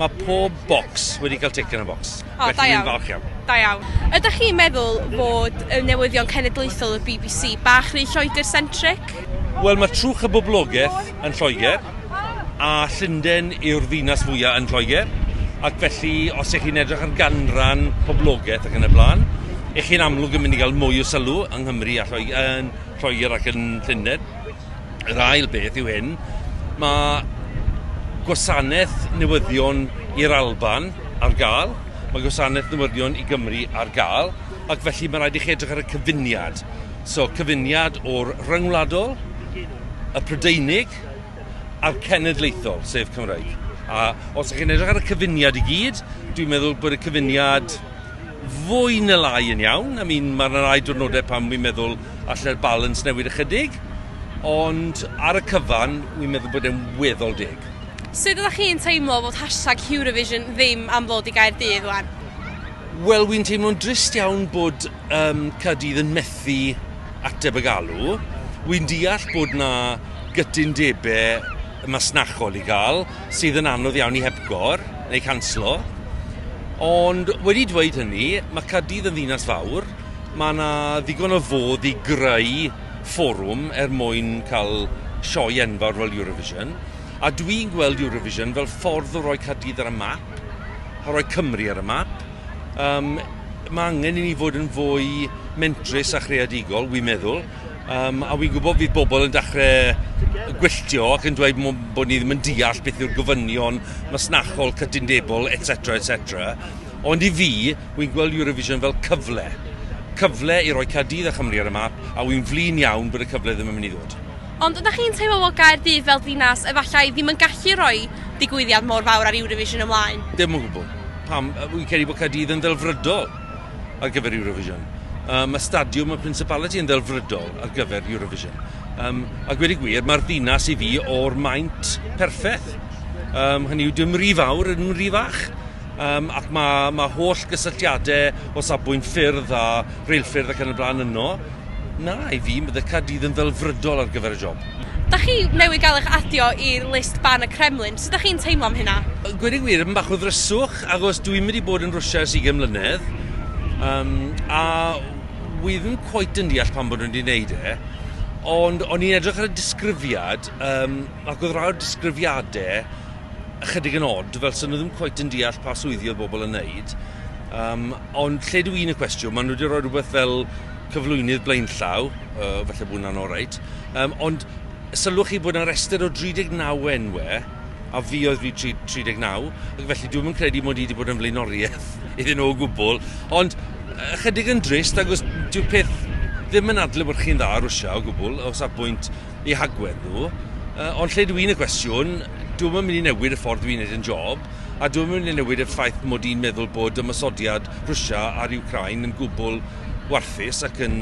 Mae pob bocs wedi cael tic yn y bocs. O, da iawn. falch iawn. Da iawn. Ydych chi'n meddwl fod y newyddion cenedlaethol y BBC bach rhy Lloegr-centric? Wel, mae trwch y boblogaeth yn Lloegr, a Llundain yw'r ddinas fwyaf yn Lloegr, ac felly os ych chi'n edrych ar ganran poblogaeth ac yn y blaen, ych chi'n amlwg yn mynd i gael mwy o sylw yng Nghymru a Lloegr, yn Lloegr ac yn Llundain. Yr ail beth yw hyn, mae gwasanaeth newyddion i'r Alban ar gael, mae gwasanaeth newyddion i Gymru ar gael, ac felly mae rhaid i chi edrych ar y cyfuniad. So, cyfuniad o'r rhyngwladol, y Prydeinig, a'r cenedlaethol, sef Cymraeg. A os ydych chi'n edrych ar y cyfuniad i gyd, dwi'n meddwl bod y cyfuniad fwy na lai yn iawn. I mean, mae yna rai diwrnodau pan wi'n meddwl allai'r balance newid ychydig, ond ar y cyfan, wi'n meddwl bod e'n weddol deg. Sut ydych chi'n teimlo fod hashtag Hurovision ddim am ddod i Gaerdydd wan? Wel, wi'n teimlo'n drist iawn bod um, Caerdydd yn methu ateb y galw. Wi'n deall bod na gytundebau masnachol i gael, sydd yn anodd iawn i hepgor neu canslo, ond wedi dweud hynny, mae Caerdydd yn ddinas fawr, mae yna ddigon o fodd i greu fforwm er mwyn cael sioe enfawr fel Eurovision, a dwi'n gweld Eurovision fel ffordd o roi Caerdydd ar y map, o roi Cymru ar y map. Um, mae angen i ni fod yn fwy mentrus a chreadigol, wi'n meddwl, Um, a fi'n gwybod fydd bobl yn dechrau gwylltio ac yn dweud bod ni ddim yn deall beth yw'r gofynion masnachol, cytundebol, etc, etc. Ond i fi, wy'n gweld Eurovision fel cyfle. Cyfle i roi Caerdydd a Chymru ar y map, a wy'n flin iawn bod y cyfle ddim yn mynd i ddod. Ond ydych chi'n teimlo bod Gaerdydd fel dinas efallai ddim yn gallu rhoi digwyddiad mor fawr ar Eurovision ymlaen? Dim o gwbl. Pam, wy'n credu bod Caerdydd yn ddelfrydol. ar gyfer Eurovision. Um, mae stadiwm y Principality yn ddelfrydol ar gyfer Eurovision. Um, a gwedi gwir, mae'r ddinas i fi o'r maint perffaith. Um, hynny yw, dim rhi fawr, dim rhi fach. Um, ac mae, mae holl gysylltiadau o safbwynt ffyrdd a reilffyrdd ac yn y blaen yno. Na, i fi, mae Caerdydd yn ddelfrydol ar gyfer y job. Dach chi newydd gael eich adio i list ban y Kremlin, sut dach chi'n teimlo am hynna? Gweud y gwir, bach o ddryswch, achos dwi wedi bod yn Rwsia ers ugain mlynedd, yym, a wi ddim cweit yn deall pam bod nhw wedi wneud e, ond o'n i'n edrych ar y disgrifiad, yym, ac oedd rai o'r disgrifiadau ychydig yn od, fel 'sen nhw ddim cweit yn deall pa swyddi oedd bobl yn wneud, yym, Ond lle dw i'n y cwestiwn, maen nhw wedi rhoi rhywbeth fel cyflwynydd blaenllaw, uh, felly bod hwnna'n oreit. Um, ond sylwch chi bod yna restr o 39 enwau, a fi oedd fi 39, ac felly dwi'n yn credu mod i wedi bod yn flaenoriaeth iddyn nhw o gwbl. Ond ychydig yn drist, agos dyw peth ddim yn adlewyrchu'n dda Rwysia o gwbl, o safbwynt eu hagwedd nhw. Uh, ond lle dw i'n y cwestiwn, dwi'n mynd i newid y ffordd dwi'n gwneud yn job, a dwi'n mynd i newid y ffaith mod i'n meddwl bod ymosodiad Rwysia ar Ukraine yn gwbl warthus ac yn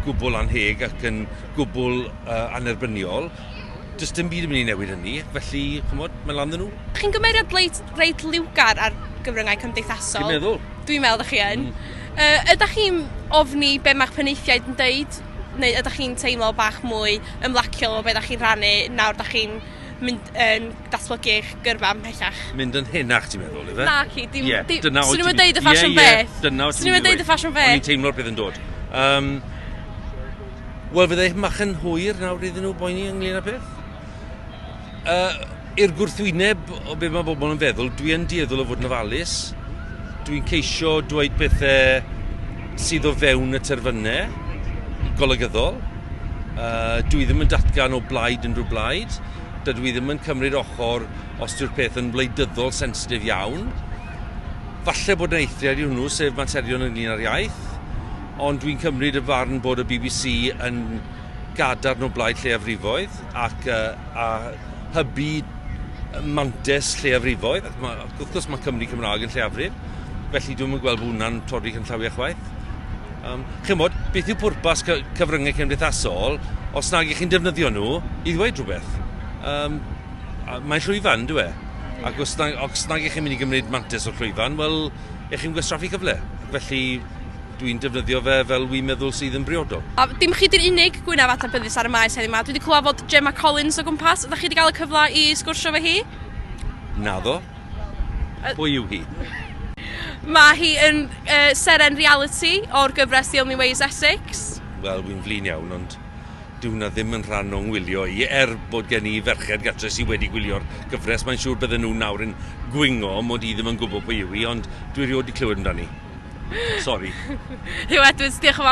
gwbl anheg ac yn gwbl uh, anerbyniol. Does dim byd yn mynd i newid hynny, felly, chymod, mae'n lan nhw. Chi'n gymeriad reit, reit liwgar ar gyfryngau cymdeithasol. Dwi'n meddwl. Dwi'n meddwl, ydych chi yn. Mm. Uh, ydych chi'n ofni be mae'ch penaethiaid yn dweud neu ydach chi'n teimlo bach mwy ymlaciol o be' 'dach chi'n rhannu nawr 'dach chi'n mynd yn datblygu eich gyrfa ymhellach? Mynd yn henach ti'n meddwl ife? Naci dim yeah, dim... Dyna oed ti'n... Swn i'n deud y ffasiwn yeah, yeah, beth. Dyna oed ti'n... Swn i'n deud y ffasiwn beth. O'n i'n teimlo'r peth yn dod. Um, Wel, fydde mach yn hwyr nawr iddyn nhw boeni ynglyn â peth. Uh, i'r gwrthwyneb o beth mae bobl yn feddwl, dwi yn dieddol o fod yn ofalus. Dwi'n ceisio dweud pethau sydd o fewn y terfynau golygyddol. Uh, dwi ddim yn datgan o blaid unrhyw blaid. Dydw i ddim yn cymryd ochr os yw'r peth yn wleidyddol sensitif iawn. Falle bod yna eithriad i hwnnw, sef materion ynglyn â'r iaith, ond dwi'n cymryd y farn bod y bbc yn gadarn o blaid lleiafrifoedd ac uh, a hybu mantes lleiafrifoedd. Ac mae, wrth gwrs mae Cymru Cymraeg yn lleiafrif, felly dwi'n gweld bod hwnna'n torri cynllawiau chwaith. Um, chi'n bod, beth yw pwrpas cyfryngau cymdeithasol os nag i chi'n defnyddio nhw i ddweud rhywbeth? Um, mae'n llwyfan, dwi e? Ac os nag, os nag i chi'n mynd i gymryd mantis o'r llwyfan, wel, i chi'n gwestraffu cyfle. Felly, Dwi'n defnyddio fe fel wi'n meddwl sydd yn briodol. A dim chi di'r unig gwynaf adnabyddus ar y maes heddiw 'ma. Dwi 'di clywed fod Gemma Collins o gwmpas. Ydach chi 'di gael y cyfle i sgwrsio efo hi? Naddo. Pwy yw hi? Mae hi yn yy seren realiti o'r gyfres The Only Way is Essex. Wel, wi'n flin iawn, ond Dyw 'na ddim yn rhan o'ng ngwylio i, er bod gen i ferched gartre sy wedi gwylio'r gyfres, mae'n siŵr bydden nhw nawr yn gwingo mod i ddim yn gwybod pwy yw hi, ond dwi rioed 'di clywed amdani. Sori. Huw Edwards, diolch yn fawr iawn am dy wybodeth di.